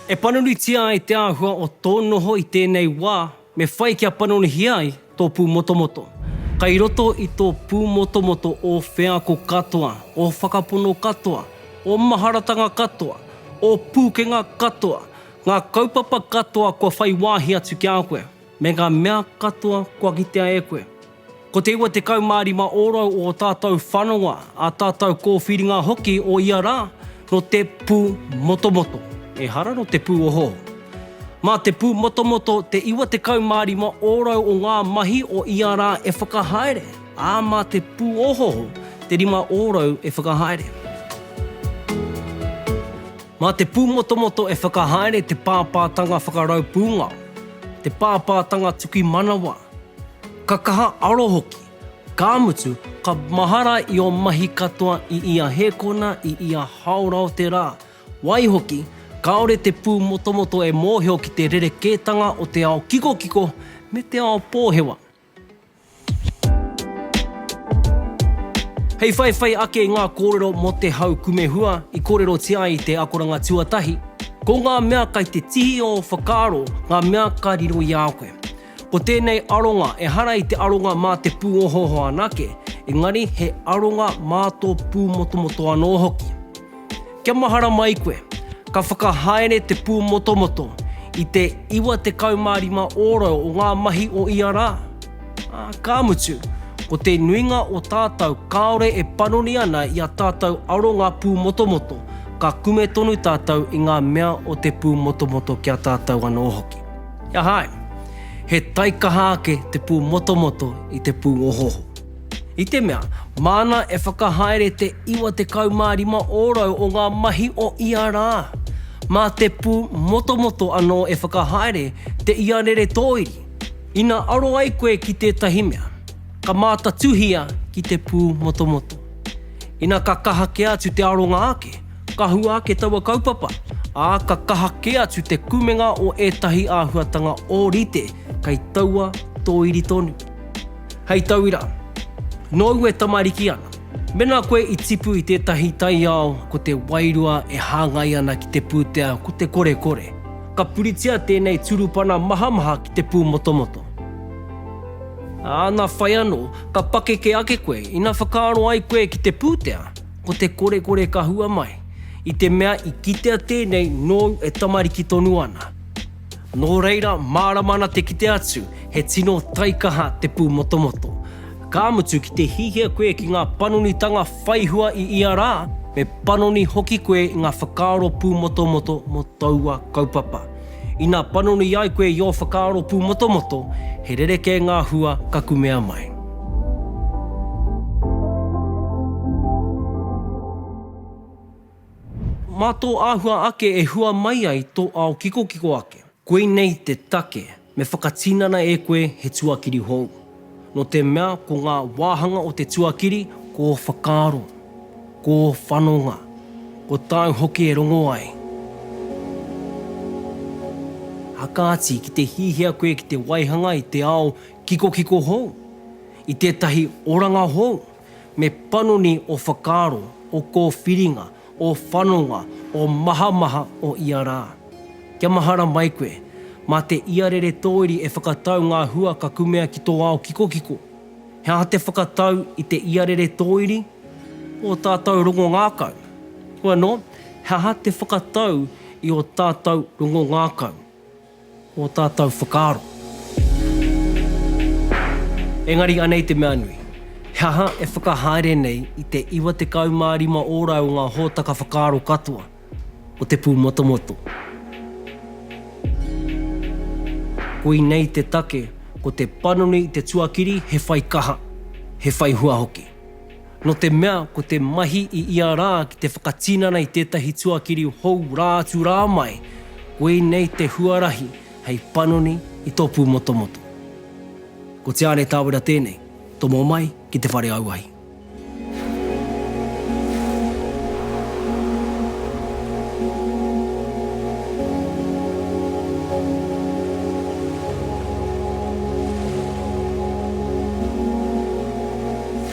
E panonitia ai te āhua o tō noho i tēnei wā, me whai kia panonihia ai tō pūmotomoto. Kai roto i tō pūmotomoto ō wheako katoa, ō whakapono katoa, ō maharatanga katoa, ō pūkenga katoa, ngā kaupapa katoa kua whai wāhi atu ki a koe. Me ngā mea katoa kua kitea e koe. Ko te 95 ōrau o ō tātou whanonga, ā tātou kōwhiringa hoki o ia rā, nō te pū motomoto, ehara nō te pū ohoho. Mā te pū motomoto te 95 ōrau o ngā mahi o ia rā e whakahaere, ā, mā te pū ohoho te rima ōrau e whakahaere. Mā te pūmotomoto e whakahaere te pāpātanga whakarau pūngao, te pāpātanga tuki manawa, ka kaha aro hoki, ka mutu, ka mahara i ō mahi katoa i ia hēkona, i ia hāora o te rā. Waihoki, kāore te pūmotomoto e mōhio ki te rerekētanga o te ao kikokiko me te ao pōhewa. Hei whaiwhai ake i ngā kōrero mō te hau kumehua i kōrerotia ai i te akoranga tuatahi, ko ngā mea kai te tihi o ō whakaaro ngā mea ka riro i a koe. Ko tēnei aronga ehara i te aronga mā te pūohooho anake, engari he aronga mā tō pūmotomoto anō hoki. Kia mahara mai koe. Ka whakahaere te pūmotomoto i te 95 ōrau o ngā mahi o ia rā, ā, ka mutu, ko te nuinga o tātou kāore e panoni ana i a tātou aronga pūmotomoto, ka kume tonu tātou i ngā mea o te pūmotomoto ki a tātou anō hoki. He aha ai? He taikaha ake te pūmotomoto i te pūohoho. I te mea, māna e whakahaere te 95 ōrau o ngā mahi o ia rā. Mā te pū motomoto anō e whakahaere te iarere tōiri. Ina aro ai koe ki tētahi mea, ka mātatuhia ki te pū motomoto. Ina ka kaha kē atu te aronga ake, ka hua ake taua kaupapa, ā, ka kaha kē atu te kumenga o ētahi āhuatanga ōrite kei taua tōiri tonu. Hei tauira, nōu e tamariki ana. Mēnā koe i tipu i tētahi taiao ko te wairua e hāngai ana ki te pūtea ko te korekore, ka puritia tēnei turupana mahamaha ki te pūmotomoto. Āna whai anō, ka pakeke ake koe ina whakaaro ai koe ki te pūtea ko te korekore ka hua mai, i te mea i kitea tēnei nōu e tamariki tonu ana. Nō reira, mārama ana te kite atu, he tino taikaha te pūmotomoto. Ka mutu, ki te hiahia koe ki ngā panonitanga whai hua i ia rā, me panoni hoki koe i ngā whakaaro pūmotomoto mō taua kaupapa. Ina panoni ai koe i ō whakaaro pūmotomoto, he rerekē ngā hua ka kumea mai. Mā tō āhua ake e hua mai ai tō ao kikokiko ake. Koinei te take me whakatinana e koe he tuakiri hou. Nō te mea ko ngā wāhanga o te tuakiri ko whakaaro, ko whanonga, ko tāu hoki e rongo ai. Ā kāti, ki te hiahia koe ki te waihanga i te ao kikokiko hou, i tētahi oranga hou, Me panoni ō whakaaro, ō kōwhiringa, ō whanonga, ō mahamaha o ia rā. Kia mahara mai koe, mā te iarere tōiri e whakatau ngā hua ka kumea ki tō ao kikokiko. He aha te whakatau i te iarere tōiri? Ō tātou rongo ngākau. Hoi anō, he aha te whakatau i ō tātou rongo ngākau? ō tātou whakaaro. Engari anei te mea nui, he aha e whakahaere nei i te 95 ōrau o ngā hōtaka whakaaro katoa o te pūmotomoto? Koinei te take, ko te panoni i te tuakiri he whai kaha, he whai hua hoki. Nō te mea ko te mahi i ia rā ki te whakatinana i tētahi tuakiri hou rā atu rā mai, koinei te huarahi hei panoni i tō pūmotomoto. Ko Te Aare Tāwera tēnei, tomo mai ki te whare auahi.